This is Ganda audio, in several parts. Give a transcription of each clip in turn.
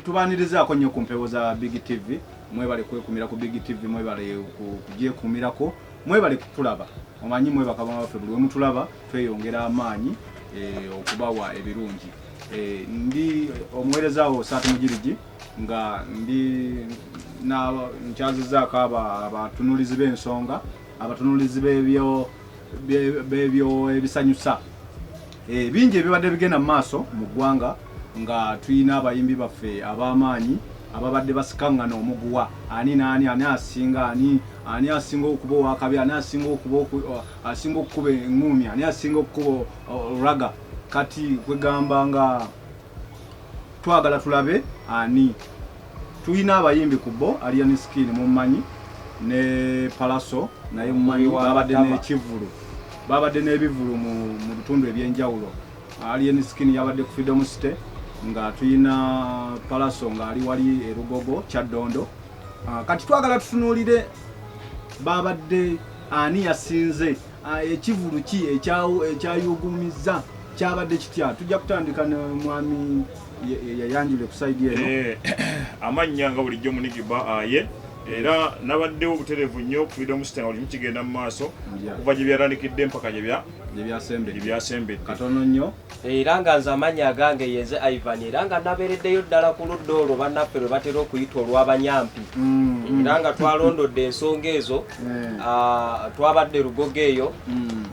tubanirizaako nnyo ku mpewo za big tv mwebale kwekumira ku big tv mwebale kugyekumirako mwebale kutulaba omanyi mwebakaba baffe buli wemutulaba tweyongera amaanyi eh, okubawa ebirungi eh, ndi omuweerezaawo saatu mugirigi nga ndi nkyazizaako abatunulizi b'ensonga abatunulizi bebyo ebisanyusa Eh, bingi ebibadde bigenda mu maaso mu ggwanga nga tulina abayimbi baffe ab'amaanyi ababadde basikaŋŋana omuguwa ani naani ani asinga ani ani asinga okuba owakabi ani asinga okuba asinga okukuba eŋŋuumi ani asinga okukuba olulaga kati kwegamba nga twagala tulabe ani tulina abayimbi ku bo alian skin mummanyi ne palaso naye mummanyi babadde nekivulu babadde n'ebivulu mu bitundu ebyenjawulo alian skin yabadde ku freedom city nga tulina palaso ngaali wali erugogo kyaddondo ah, kati twagala tutunuulire babadde ani yasinze Ah, ekivulu ki ekyayuugumizza kyabadde kitya tujja kutandika ne mwami yayanjule kusaidi eno eh, amannya nga bulijjo munigiba aye ah, era nabaddewo obuterevu nnyo okufiida omusita nga bulimu kigenda mu maaso okuva gye byatandikidde mpaka gyebyasembedde katono nnyo era nga nze amanyi agange yenze ivan era nga nabeereddeyo ddala ku ludda olwo bannaffe lwe batera okuyita olw'abanyampi mm. era nga twalondodde ensonga ezo mm. ah, twabadde lugogo eyo mm.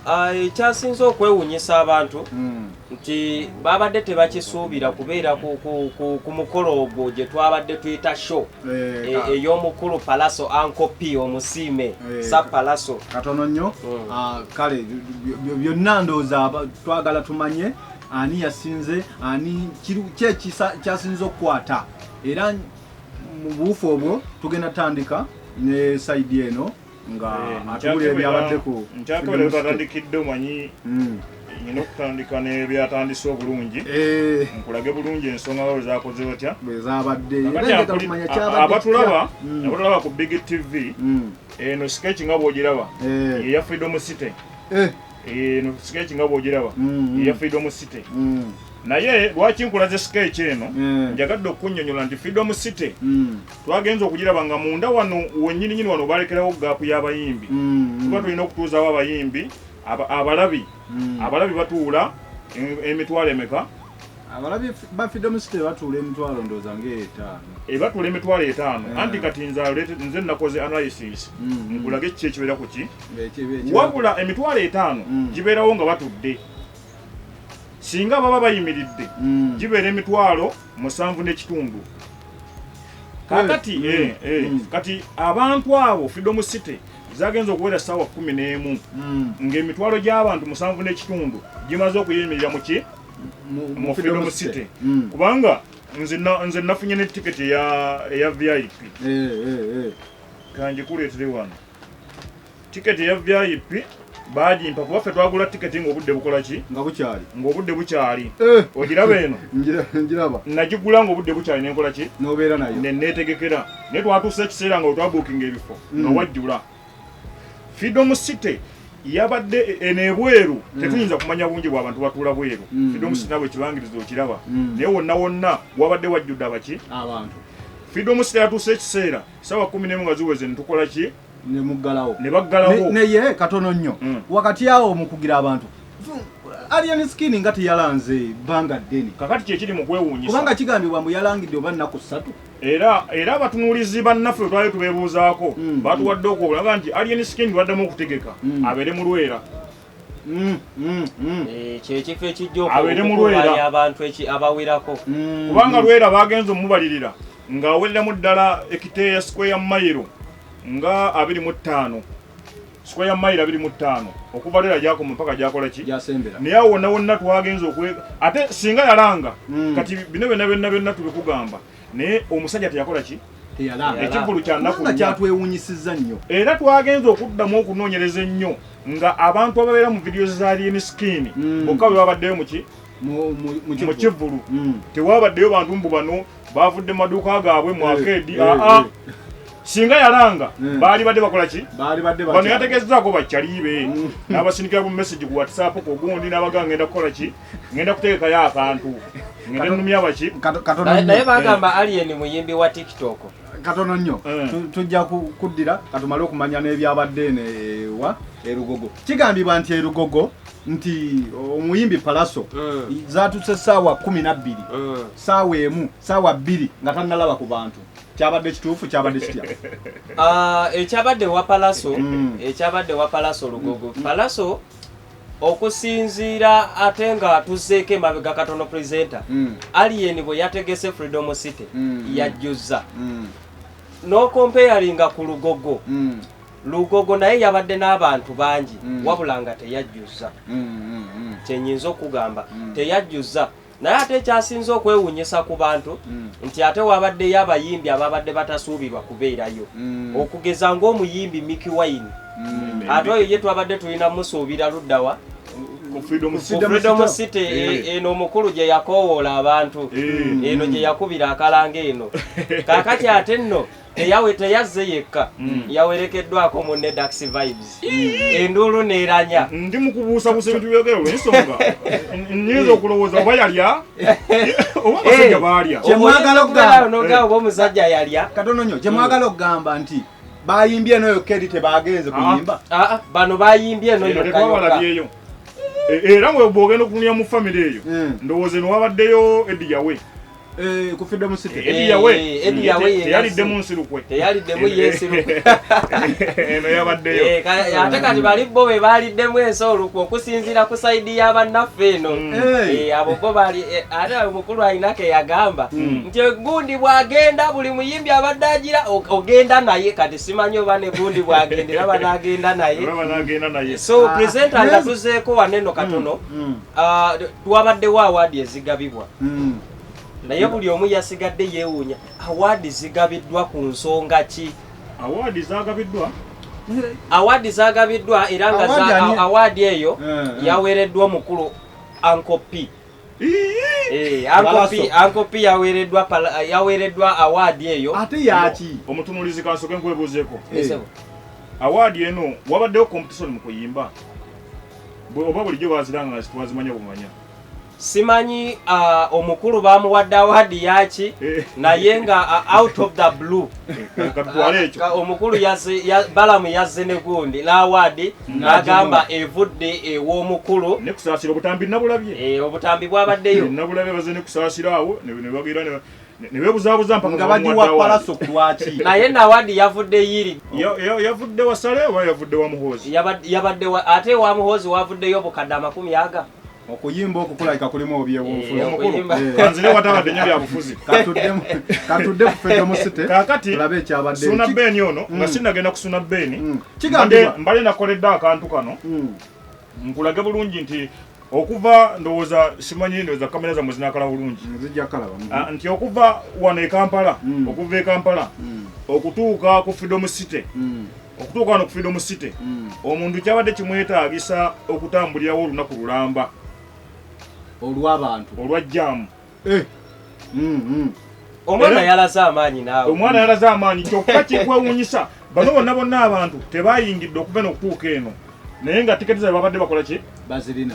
ah, ekyasinze okwewunyisa abantu nti babadde tebakisuubira kubeera ku mukolo ogwo gye twabadde tuyita show Eh, eh, ey'omukulu palaso anko p omusiime eh, sa palaso katono nnyo mm. ah, kale byonna ndowooza twagala tumanye ani yasinze ani kyasinze okukwata era mu buufu obwo tugenda tandika ne saidi eno nga eh, atubulira ebyabadde ku nkyakebera twatandikidde omanyi hmm. nyina okutandika nebyatandise obulungi eh. nkulage bulungi ensonga babo zakoze batya abatulaba hmm. abatulaba ku big tv hmm. eno sketch nga bwogiraba eh. eya freedom city eno sketch nga bwogiraba eya freedom city naye lwaki nkulaze skeeki eno mm. njagadde okunyonyola nti freedom city mm. twagenze okugiraba nga munda wano wenyini nyini wano balekerawo gaapu y'abayimbi mm, mm. tuba tulina okutuuzawo abayimbi abalabi mm. abalabi batuula emitwalo emeka abalabi ba freedom city batuula emitwalo ndooza ngaetaano ebatuula eh, emitwalo etaano eh. anti kati nze nze nakoze analysis nkulaga ekiki ekibeera ku ki wabula emitwalo etaano gibeerawo nga batudde singa baba bayimiridde gibeera emitwalo mm. musanvu n'ekitundu kakati mm. eh, eh, mm. kati abantu abo freedom city zagenze okuwera sawa kumi n'emu mm. ng'emitwalo gy'abantu musanvu n'ekitundu gimaze okuyimirira muki mu freedom city mm. kubanga nze nafunye ne tiketi eya vip eh, eh, eh. kanjikuleetere wano Tiketi eya VIP baagimpa kuba ffe twagula tiketi ng'obudde bukola ki nga bukyali ng'obudde bukyali eh. ogiraba eno ngiraba nagigula ng'obudde bukyali nenkola ki nobeera nayo neneetegekera naye twatuusa ekiseera nga wetwabuukinga ebifo nga mm. wajjula freedom city yabadde e, e, nebweru mm. tetuyinza kumanya bungi bwabantu batuula bweru mm. freedom city nabwe ekibangiriza okiraba naye wonna wonna wabadde wajjudde abaki abantu freedom city yatuusa ekiseera sawa kumi nemu nga ziweze netukola ki ne muggalawo ne baggalawo naye katono nnyo mm. wakati awo mukugira abantu alien skin nga teyalanze bbanga ddene kakati kyekiri mu kwewuunyisa kubanga kigambibwa mbu yalangidde oba nnaku ssatu era era abatunuulizi bannaffe bwe twali tubeebuuzaako mm. batuwadde okwolaba nti alien skin baddamu okutegeka mm. abeere mu lwera Mm, mm, mm. Eh, kyekifo ekijjaokubaali abantu abawerako kubanga lwera bagenza omubalirira nga awereramu ddala ekiteeya sikweya mayiro nga abiri mu ttaano sikweya mayiro abiri mu ttaano okuva lwera gyakoma mpaka gyakola ki naye awo wonna wonna twagenza okwe ate singa yalanga kati bino byonna byonna byonna tubikugamba naye omusajja teyakola ki ekivulu kyanakukyatwewunyisiza nnyo era twagenza okuddamu okunoonyereza ennyo nga abantu ababeera mu vidiyo za lyemiskin mm. bokka bwe babaddeyo muki mu kivulu mm. tewabaddeyo bantu mbu bano bavudde maduuka gaabwe mu eh, akeedi eh, aa eh. singa yalanga hmm. baali badde bakola ki bano yategeezaako bakyaliibe hmm. n'abasindikira ku message ku whatsapp ku gundi n'abaga ngenda kukola ki ngenda kutegekayo akantu ngende numya baki naye bagamba eh. alien muyimbi wa tiktok katono nnyo eh. tujja kuddira katumale okumanya n'ebyabadde newa erugogo kigambibwa nti erugogo nti omuyimbi palaso eh. zatuse saawa kumi nabbiri saawa emu saawa bbiri nga tanalaba ku bantu kyabadde kituufu kyabadde kitya ah, ekyabadde wa palaso mm. ekyabadde wa palaso lugogo palaso mm. okusinziira ate nga tuzzeeko emabega katono presenter mm. alien bwe yategese freedom city mm. mm. yajjuzza mm. n'okompeyaringa ku lugogo mm. lugogo naye yabadde n'abantu bangi mm. wabula nga teyajjuzza mm, mm, mm. kyenyinza okugamba mm. teyajjuzza naye ate ekyasinze okwewunyisa ku bantu mm. nti ate wabaddeyo abayimbi ababadde batasuubirwa kubeerayo mm. okugeza ng'omuyimbi miki wine mm. ate oyo ye twabadde tulina musuubira luddawa freedom city eh, eh. Eh, eno omukulu gye yakowoola abantu eno gye yakubira akalanga eno kakati ate nno eyawe teyazze yekka mm. yawerekeddwako munne dax vibes mm. enduulu neeranya mm, ndi mukubuusabuusa ebintu byogero lwensonga nyinza okulowooza oba yalya oba abasajja eh, baalya kyemwagala okugamba oba omusajja yalya katono nyo kyemwagala okugamba nti bayimbye eno yokka eri tebaagenze kuyimba ah, ah, ah, bano bayimbye eno yokkayokka e, era webwogenda okunia mu famiry eyo ndowooza eno wabaddeyo ediyawe Eh, ku freedom city eh, edi yawe eh, edi yawe yalidde mu nsirukwe teyalidde mu yensirukwe eno yabaddeyo ate kati bali bo be baliddemu ensi olukwe okusinziira ku sayidi ya bannaffe eno mm. abo bo bali ate omukulu alina ke yagamba mm. nti egundi bwagenda buli muyimbi abadde agira ogenda naye kati simanyi oba ne gundi bwagenda era banagenda naye so presenta nga tuzeeko waneno katono mm, Ah, wabaddewo awaadi ezigabibwa hmm. naye buli omu yasigadde yeewuunya awaadi zigabiddwa ku nsonga ki awaadi zagabiddwa awaadi zagabiddwa era nga awaadi eyo eh, eh. yaweereddwa omukulu ankopi Eh, ankopi yaweereddwa awaadi eyo ate yaki omutunulizi kansoke nkwebuuzeeko eh. awaadi eno wabaddewo competition mu kuyimba oba bulijjo baziranga nga zitwazimanya bumanya simanyi uh, omukulu bamuwadde awaadi yaki eh. naye nga uh, out of the blue uh, omukulu balamu yazze ne gundi n'awaadi n'agamba evudde ew'omukulu eh, obutambi bwabaddeyo nebebuzabuza mpanga bagiwa palaso kulwaki naye nawadi yavudde yiri yavudde wasale oba yavudde wa muhoozi yabadde ate wa muhoozi wavuddeyo obukadde amakumi aga okuyimba okukulabika kulimu obyebunfuzianzire eh, eh. watabadde nyo byabufuzi katudde kufedo musite kakati olabe ekyabadde suna beni ono nga mm. sinagenda kusuna beni mm. kigambye mbale nakoledde akantu kano mm. Nkulage bulungi nti okuva ndowooza simanyi ndowooza kamera zamwe zinakala bulungi ah, nti okuva wano ekampala hmm. okuva ekampala hmm. okutuuka ku freedom city hmm. okutuuka wano ku freedom city omuntu kyabadde kimwetaagisa okutambulirawo olunaku lulamba olwabantu olwa jaamu Eh. Mm, mm. omwana yalaze amaanyi naawe omwana yalaze amaanyi kyokka kikwewunyisa bano bonna bonna abantu tebayingidde okuva eno okutuuka eno naye nga tiketi zabe babadde bakola ki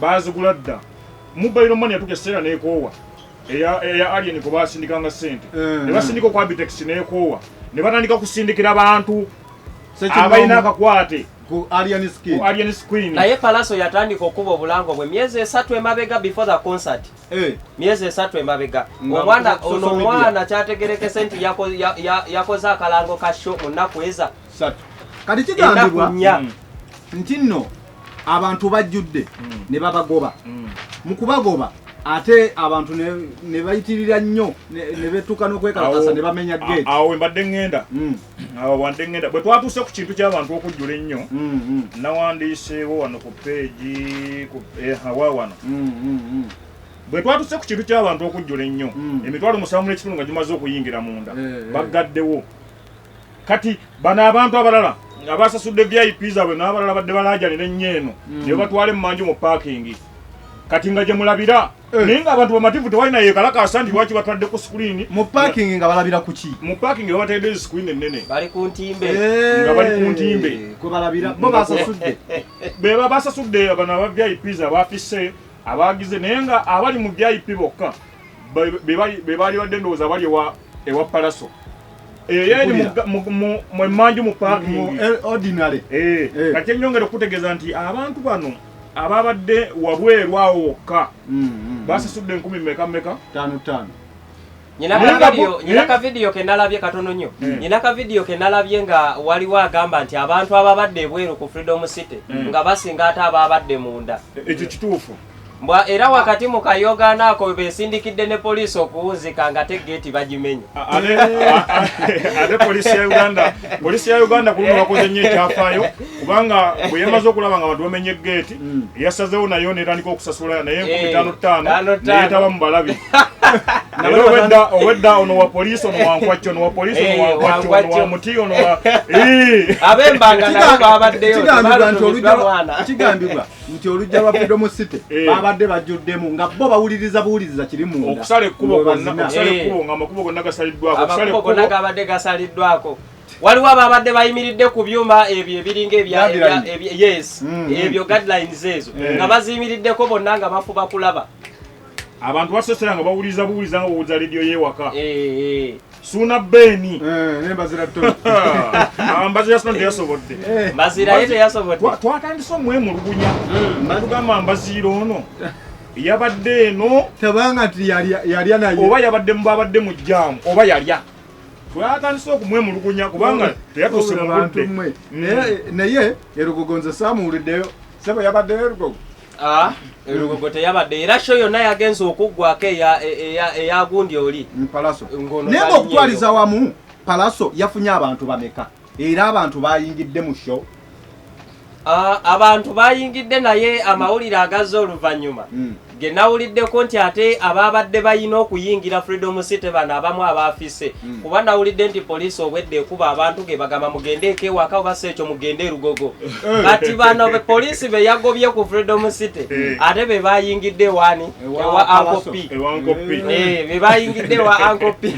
bazigula dda mubayiro mani yatuka ekiseera nekoowa eya alien kwe basindikanga sente eh. ne basindika okwa bitex nekoowa ne batandika kusindikira bantu abalina akakwate naye palaso yatandika okuba obulango bwe myezi esatu emabega before the concert Eh. myezi esatu emabega omwana ono omwana kyategerekese nti yakoze akalango ka sho mu nnaku eza kati kigambibwa hmm. nti nno abantu bajjudde hmm. ne babagoba hmm. mu kubagoba ate abantu ne bayitirira nnyo ne betuka n'okwekalakasa ne bamenya gate awo mbadde ŋŋenda awo wande ngenda bwe twatuuse ku kintu ky'abantu okujjula ennyo mm, mm. nawandiiseewo wano ku peegi eh, hawa wano mm, bwe twatuuse ku kintu ky'abantu okujjula ennyo emitwalo musanvu n'ekitundu nga gimaze okuyingira munda eh, eh. baggaddewo kati bano abantu abalala nga basasudde vip zaabwe n'abalala badde balaajanira ennyo eno ne batwala emmanju mu paakingi kati nga gye mulabira Eh. naye ngaabantu bamativu tewalina yekalakaasa nti lwaki batwadde ku screen mu parking nga balabira kuki mu parking nga bateedde screen ennene bali ku ntimbe eh. nga bali ku ntimbe kwebalabira bo basasudde beba basasudde abana aba vips abafise abagize naye nga abali mu vip bokka bebaali badde ndowooza abali ewa palaso eyo eri mwemanju mu parking eh, kati enyongera okutegeeza nti abantu bano ababadde wabweru awo wokka mm, mm, mm. basasudde enkumi meka meka tano tano nyina ka vidiyo ke nalabye katono nnyo hmm. nyina ka vidiyo ke nalabye nga waliwo agamba nti abantu ababadde ebweru ku freedom city hmm. nga basinga ate ababadde munda e, ekyo kituufu mbwa era wakati mu kayogaano ako besindikidde ne poliisi okuwunzika nga te geeti bagimenya ate poliisi ya uganda poliisi ya uganda kuluno bakoze nnyo ekyafaayo kubanga bwe yamaze okulaba nga abantu bamenye geeti mm. yasazewo nayo netandika okusasula naye enkumi eh, tano ttaano neyetaba mu balabi owedda owedda ono wa poliisi ono wankwacci ono wa poliisi ono eh, wankwacci ono wa muti ono wa abembanga nabo babaddeyo kigambibwa nti olujja lwa freedom city eh. babadde bajjuddemu nga bo bawuliriza buwuliriza kiri munda okusala ekkubo gonna okusala ekkubo nga amakubo gonna gasaliddwako amakubo gonna gabadde gasaliddwako waliwo ababadde bayimiridde ku byuma ebyo ebiringa yes mm, mm. ebyo guidelines ezo eh. nga baziyimiriddeko bonna nga bafuba kulaba abantu basesera nga bawuliza buwuliza nga bawuliza leediyo yewaka eh, eh. suuna beeni mbazira sina teyasobodde twatandise omwemulugunya mm. natugamba mbaziira ono yabadde eno tebanga nti yalya naye oba yabadde mubabadde mu jaamu oba yalya twatandise okumwemulugunya kubanga teyatuse mu budde naye erugogo nze saamuwuliddeyo sebo yabaddeyo erugogo Ah, elugogo teyabadde era sho yonna yagenze okuggwako eyagundi oli naye ngaokutwaliza wamu palaso yafunye abantu bameka era abantu bayingidde mu show ah, abantu bayingidde naye amawulire agazze oluvannyuma hmm. ge nawuliddeko nti ate abaabadde balina okuyingira freedom city bano abamu abaafise hmm. kuba nawulidde nti poliisi obwedde ekuba abantu ge bagamba mugende ekewaka oba si ekyo mugende erugogo eh. kati bano poliisi be yagobye ku freedom city eh. ate be bayingidde wani ewa anko p ewa anko p eh, eh me bayingide wa anko p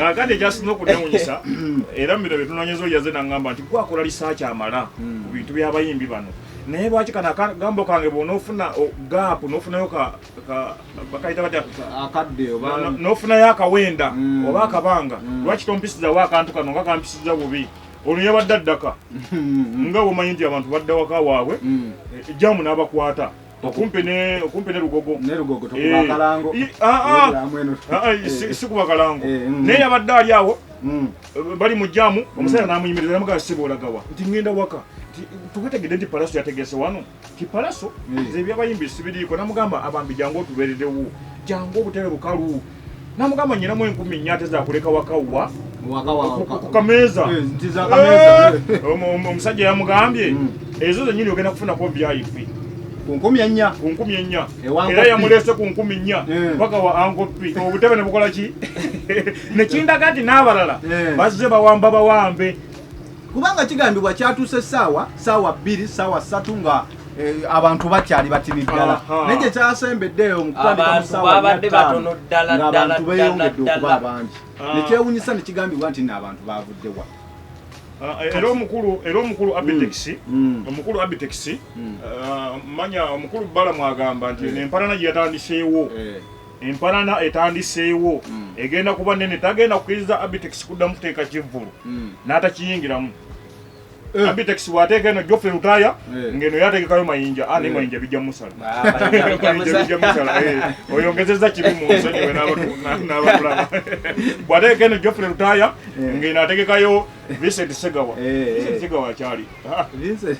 akade just no kunemunyisa mm. era miro bitunanyezo yaze nangamba nti kwa kola research amala mm. bintu bya bayimbi bano naye lwaki kana gambo kange bwonofuna gap nofunayo ka, ka, bakaita batya akadde oba nofunayo akawenda mm. oba akabanga mm. lwaki tompisizawo akantu kano nga kampisiza bubi ono yabadde addaka nga womanyi nti abantu badda waka waabwe mm. eh, jamu n'abakwata okumpi ne okumpi ne lugogo ne lugogo to kuba kalango eh ah ah, ah, ah, ah si kuba kalango eh, mm. ne yabadde ali awo mm. eh, bali mu jamu mm. omusajja namuyimiriza namugaa sibola gawa nti ngenda waka tukategedde nti palaso yategese wano ti palaso nze ebyabayimbi sibiriiko namugamba abambi jangu otubeeredewo jangu obutebe bukalu namugamba nyinamu enkumi nnya ate zakuleka wakawwa ku kameeza omusajja yamugambye hmm. ezo zenyini ogenda kufunako vip ku nkumi ennya ku nkumi ennya era yamuleese ku nkumi nnya eh. mpaka wa ankopi obutebe ne bukola ki nekindaga nti n'abalala eh. bazze bawamba bawambe kubanga kigambibwa kyatuuse essaawa saawa bbiri saawa ssatu nga eh, abantu bakyali batini ddala naye gye kyasembeddeeyo mukutandikamusaawabantu beyongedde okuba abangi ah. nekyewunyisa nekigambibwa nti no abantu bavudde wa ah, eh, era omukulu era omukulu mm. abitex mm. omukulu abitex mm. ah, manya omukulu bala mwagamba nti empalana gye yatandiseewo eh. empanana etandiseewo mm. egenda kuba nene tagenda kukiriza abitex kuddamu kuteeka kivvulu mm. n'atakiyingiramu eh. abitex bwateeka eno jofe lutaya eh. ngeno yategekayo mayinja ane ah, eh. mayinja bijja musala ah, eh, oyongezeza kibi munsonyiwe nabatulaba bwateeka eno jofe lutaya ngeno ategekayo vincent segawa vincent segawa akyali ah,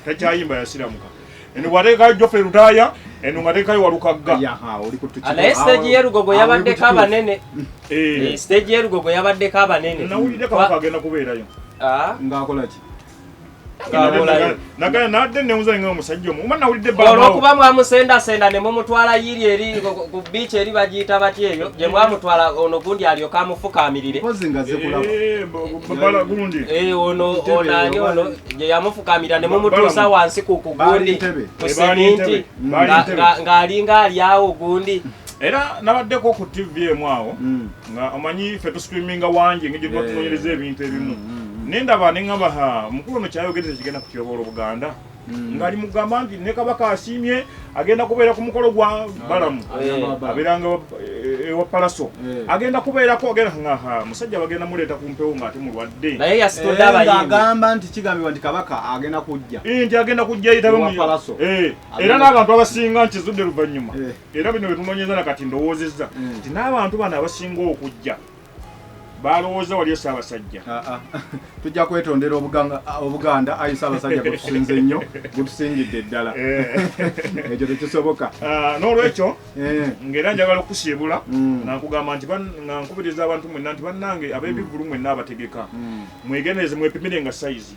takyayimba yasiramuka eno bwateekayo jofre lutaaya eno nga teekayo walukagga naye stage yelugogo yabaddeko abanene eh. eh, stage yelugogo yabaddeko abanene nawulidde kabaka agenda kubeerayo ah. ngaakolaki nagana nadde newuza nga omusajja omu oba nawulidde olwokuba mwamusendasenda ne mumutwala yiri eri ku biici eri bagiyita batya eyo gye mwamutwala ono gundi alyoka amufukaamirire eh, gundi ono onani ono yamufukamira ne mumutuusa wansi ku kugundi ku seminti ng'alinga alyawo gundi era nabaddeko ku tv emu awo mm. nga omanyi fe tusitreaminga wangi engeri gyetubatunoonyereza eh. ebintu ebimu mm, mm, nendaba nengamba ha mukulu ono kyayogereza kigenda kutyobola obuganda ng'ali mugamba nti ne kabaka asiimye agenda kubeera ku mukolo gwa ah, balamu eh. abeeranga eh, ewa palaso eh. agenda kubeerako agenaa musajja bagenda muleeta ku mpewo ngaate mulwadde naye yasitodagamba nti kigambibwa nti kabaka agenda kujja nti agenda kujja yitabemualaso era n'abantu abasinga nkizudde luvannyuma era bino betunonyeza na kati ndowoozezza nti n'abantu bano abasinga okujja balowooza waliyo ssaabasajja tujja kwetondera obuganda ayi ssaabasajja gwetusinze nnyo gwetusingidde ddala eh. ekyo tekisoboka ah, n'olwekyo eh. ngaera njagala okukusiibula mm. nankugamba nti nga nkubiriza abantu mwenna nti bannange ab'ebivulu mm. mwenna abategeka mm. mwegendereze mwepimire nga sayizi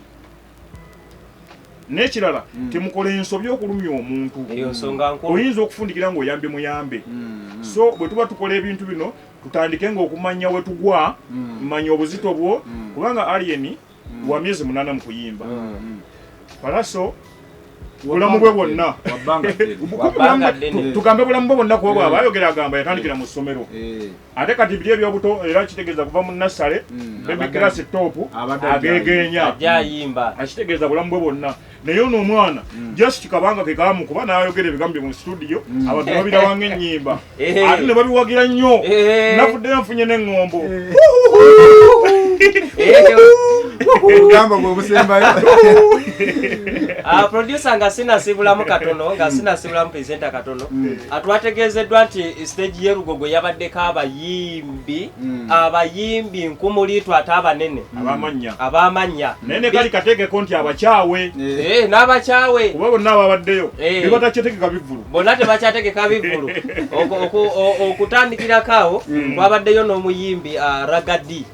nekirala mm. temukola ensobi okulumya omuntu oyinza okufundikira nga oyambye muyambe mm. so bwetuba tukola ebintu bino tutandike nga okumanya wetugwa mm. manya obuzito bwo mm. kubanga alien mm. wa myezi munana mukuyimba mm. mm. palaso bulamu bwe bwonna tugambe bulamu bwe bwonna kuba bwaba eh. ayogera agamba yatandikira mu ssomero eh. ate kati biri ebyobuto era kitegeeza kuva mu nassale mm, baby class top agegeenya akitegeeza bulamu bwe bwonna naye ono omwana mm. just kabanga ke kamu kuba nayogera ebigambo mu studio mm. abantu babirawa ng'ennyimba eh. ate ne babiwagira nnyo eh. nafudde nfunye n'eŋŋombo eh. obugamba bwe obusembayo ah, producer nga sinasibulamu katono nga sinasibulamu presenter katono atwategeezeddwa nti siteegi ye lugogo yabaddeko abayimbi mm. abayimbi nkumuliitu ate abanene mm. abamanya abamanya naye ne kali kateekeko nti abakyawe eh. Eh, n'abakyawe kuba bonna ababaddeyo eh. bebatakyategeka bivulu bonna tebakyategeka bivulu okutandikirako awo mm. kwabaddeyo n'omuyimbi ah, ragadi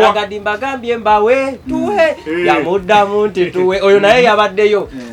ragadi mbagambye mbawe tuwe yamuddamu nti tuwe oyo naye yabaddeyo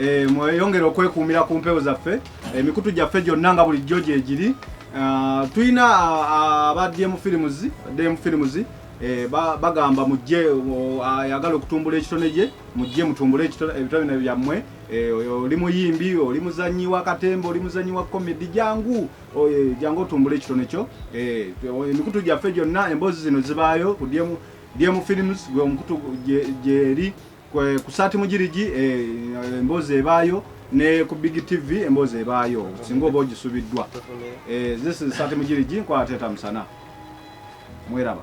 Eh, mweyongere okwekuumira ku mpewo zaffe emikutu eh, gyaffe gyonna nga bulijjo gyegiri ah, tulina ah, ah, aba dm films dm films eh, bagamba mujje oh, ayagala okutumbula ekitone gye mujje mutumbule ebitone byammwe oli muyimbi oli muzanyi wa katemba oli muzanyi wa komedi jangu oh, jangu otumbule ekitone kyo emikutu gyaffe gyonna emboozi zino zibaayo ku dm films gwe omukutu gyeri ku saati mugirigi eh, emboozi ebaayo ne ku big tv emboozi ebaayo singa oba ogisubiddwa eh, this is saati mugirigi nkwateeta musana mweraba